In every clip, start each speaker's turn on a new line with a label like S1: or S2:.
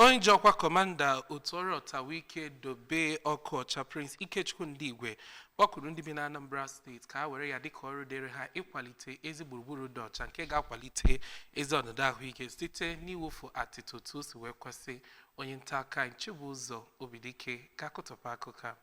S1: onye ji ọkwa kọmanda otu ọrụ ọtawike dobe ọka ọcha prince ikechukwu ndigwe kpọkuru ndị bi na anambra steeti ka ha were ya dịka ọrụ dịrị ha ịkwalite ezi gburugburu dị ọcha nke ga-akwalite ezi ọnọdụ ahụike site n'iwufu atịtị otu o si wee kwesị onye nta akụkọ chibụzọ obidike ga-akụtọpụ akụkọ a.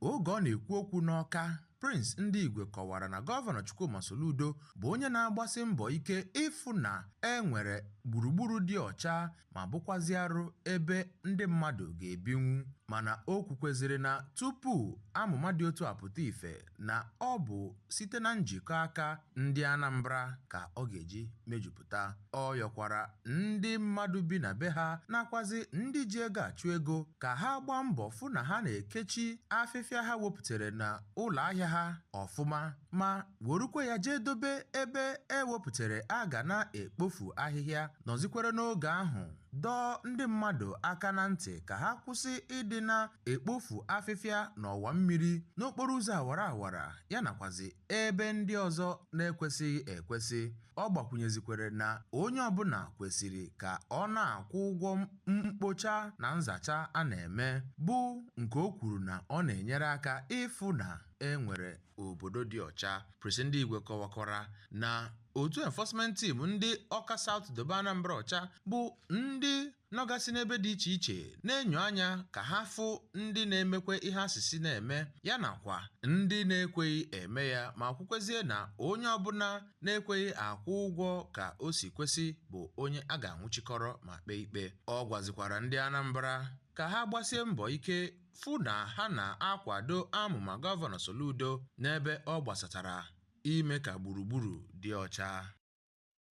S2: Oge ọ na-ekwu okwu n'Ọka, Prince Ndigwe kọwara na Gọvanọ Chukwuma Soludo bụ onye na-agbasi mbọ ike ịfụ na e nwere gburugburu dị ọcha ma bụkwazịarụ ebe ndị mmadụ ga-ebinwu mana o kwukwezịrị na tupu amụma dị otu a pụta ife na ọ bụ site na njikọ aka ndị Anambra ka ọ ga-eji mejupụta. Ọ yọkwara ndị mmadụ bi na be ha nakwazị ndị ji ego achụ ego ka ha gbaa mbọ fụ na ha na-ekechi afịfịa ha wepụtere na ụlọahịa ha ọfụma ma werukwa ya jee dobe ebe e wepụtere a ga na-ekpofu ahịhịa nọzikwere n'oge ahụ dọọ ndị mmadụ aka na ntị ka ha kwụsị ịdị na-ekpofu afịfịa n'ọwa mmiri, n'okporo ụzọ awara awara ya nakwazi ebe ndị ọzọ na-ekwesịghị ekwesị. Ọ gbakwụnyezikwere na onye ọbụla kwesiri ka ọ na-akwụ ụgwọ mkpocha na nzacha a na-eme bụ nke o kwuru na ọ na-enyere aka ịfụ na e nwere obodo dị ọcha. Prince Ndigwe kọwakwara na otu enforcement team ndị Ọka South Dobe Anambra ọcha bụ ndị nọgasị n'ebe dị iche iche na-enyo anya ka ha fụ ndị na-emekwe ihe a sị sị na-eme ya nakwa ndị na-ekweghị eme ya ma kwukwezie na onye ọbụla na-ekweghị akwụ ụgwọ ka o si kwesị bụ onye a ga-anwụchikọrọ ma kpee ikpe ọ gwazikwara ndị Anambra ka ha gbasie mbọ ike fụ na ha na-akwado amụma Gọvanọ Soludo n'ebe ọ gbasatara ime ka gburugburu dị ọcha.